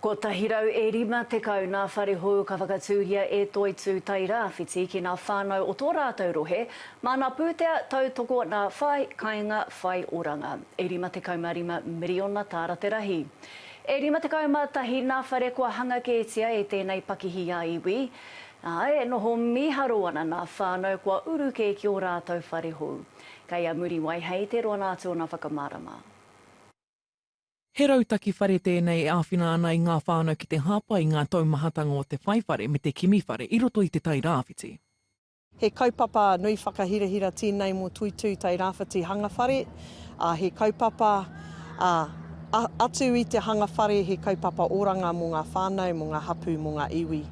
Kotahi rau e rima tekau ngā whare hou ka whakatūria e Toitū Tairāwhiti ki ngā whānau o tō rātou rohe, māna pūtea, tautoko nā whai kainga whai oranga. E rima tekau mā rima miriona tāra te rahi. E rima tekau mā tahi nā whare kua hanga kētia e tēnei pakihi a iwi, ā, e noho mīharo ana nā whānau kua uru kē ki o rātou whare hou. Kei a Muriwai hei te roa nā tōna whakamārama. He rautaki whare tēnei e āwhina ana i ngā whānau ki te hāpai i ngā taumahatanga o te whai whare me te kimi whare i roto i Te Tai Rāwhiti. He kaupapa nui whakahirahira tēnei mō Tuitui Tai Rāwhiti Hanga Whare, ā, he kaupapa, ā, atu i te hanga whare he kaupapa oranga mō ngā whānau, mō ngā hapū, mō ngā iwi.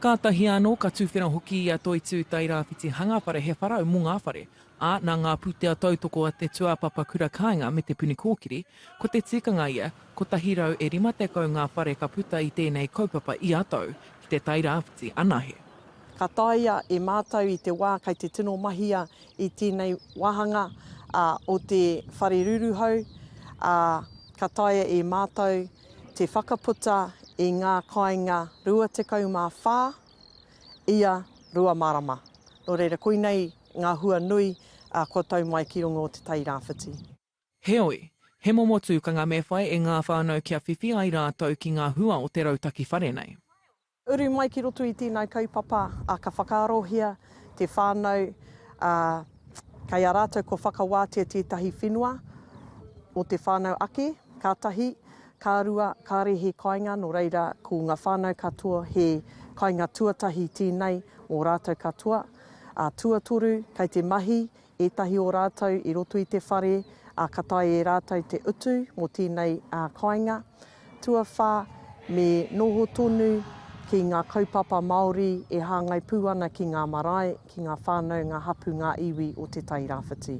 Kātahi anō, ka tuwhera hoki i a Toitū Tai Rāwhiti Hanga Whare he wharau mō ngā whare, ā, nā ngā pūtea tautoko a te tūāpapa kura kāinga me Te Puni Kōkiri, ko te tikanga ia, 150 ngā whare ka puta i tēnei kaupapa ia tau, ki te Tairāwhiti anahe. Ka taea e mātou i te wā kei te tino mahia i tēnei wāhanga o te whare ruruhau, ā, ka taea e mātou te whakaputa i ngā kāinga 24, ia rua marama. Nō reira, koinei ngā hua nui kua tau mai ki runga o Te Tai Rāwhiti. Heoi, he momo tūkanga me whai e ngā whānau kia whiwhi ai rātou ki ngā hua o te rautaki whare nei. Uru mai ki roto i tēnei kaupapa, ka whakaarohia te whānau kei a rātou kua whakawātea tētahi whenua o te whānau ake, kātahi Ka rua, kāre he kainga no reira ko nga whanau katoa he kainga tuatahi tēnei mo rātou katoa. A tuatoru, kei te mahi ētahi o rātou i roto i te whare, a ka tae e rātou te utu mo tēnei a kainga. Tuawha, me noho tonu ki nga kaupapa Maori e hāngai pū ana ki ngā marae, ki ngā whānau, ngā hapū, ngā iwi o Te Tai Rāwhiti.